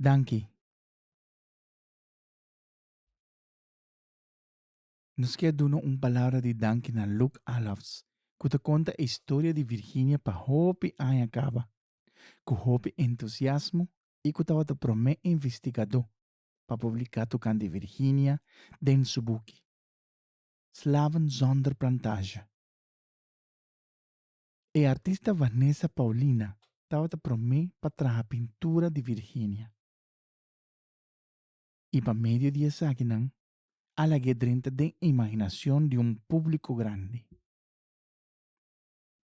Danki. Nos kier duna un palabra di danki na Luke Alafs, ku ta konta e historia di Virginia pa hopi aña kaba, ku hopi entusiasmo i ku tabata promé investigadó pa publiká tokante di Virginia den su buki Slaven zonder plantage. E artista Vanessa Paulina tabata promé pa traha pintura di Virginia. I pa medio di esakinan, alag'é drenta den imaginacion di un público grandi.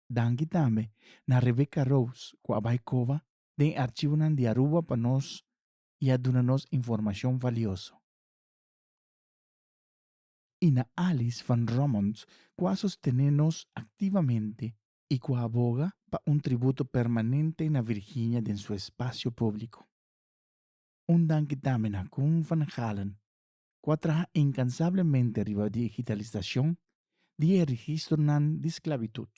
Danki tambe na Rebecca Rose cu a bai coba den archivonan di Aruba pa nos i a duna nos informacion valioso. y na Alice van Romond cu a sostene nos activamente y cu a boga pa un tributo permanente na Virginia den su espacio publico. Un danki tambe na Koen van Galen cu a traha incansablemente riba di digitalisacion di e registronan di sclavitud,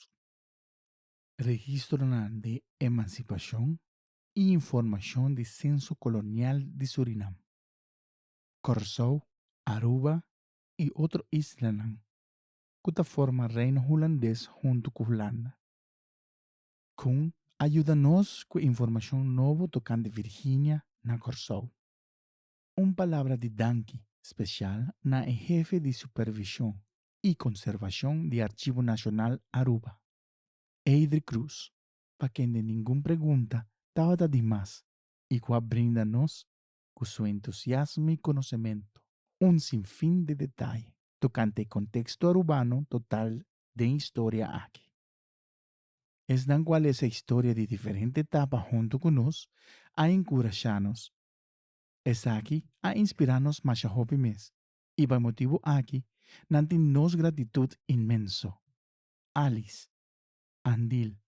registronan di emancipacion y informacion di Censo Colonial di Surinam. Kòrsou, Aruba i otro islanan ku ta forma Reino Hulandes huntu ku Hulanda. Kun a yuda nos ku e informashon nobo tokante Virginia na Kòrsou. Un palabra di danki spesial na e hefe di supervishon i konservashon di Archivo Nacional Aruba, Eidri Cruz, pa kende ningun pregunta tabata di mas i ku a brinda nos cu su entusiasmo y conocemento, un sinfin de detaye tocante e contexto arubano total den historia aki. Esnan cu a lesa e historia di diferente etapa hunto cu nos, a encurasha nos. Esaki a inspira nos masha hopi mes y pa e motibo aki nan tin nos gratitud inmenso. Alice, Andil,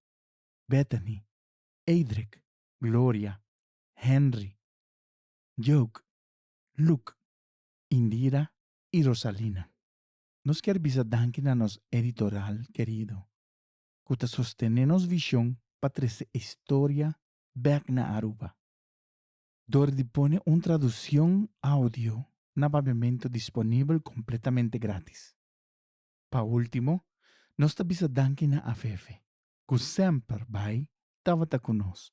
Bethany, Eidrek, Gloria, Henry, Jug, Luc, Indira y Rosalina. Nos kier bisa danki na nos editoral kerido cu ta sostene nos vision pa trece e historia bek na Aruba door di pone un traduccion audio na Babeamento disponibel completamente gratis. Pa ultimo, nos ta bisa danki na Afefe cu semper bay tabata cu nos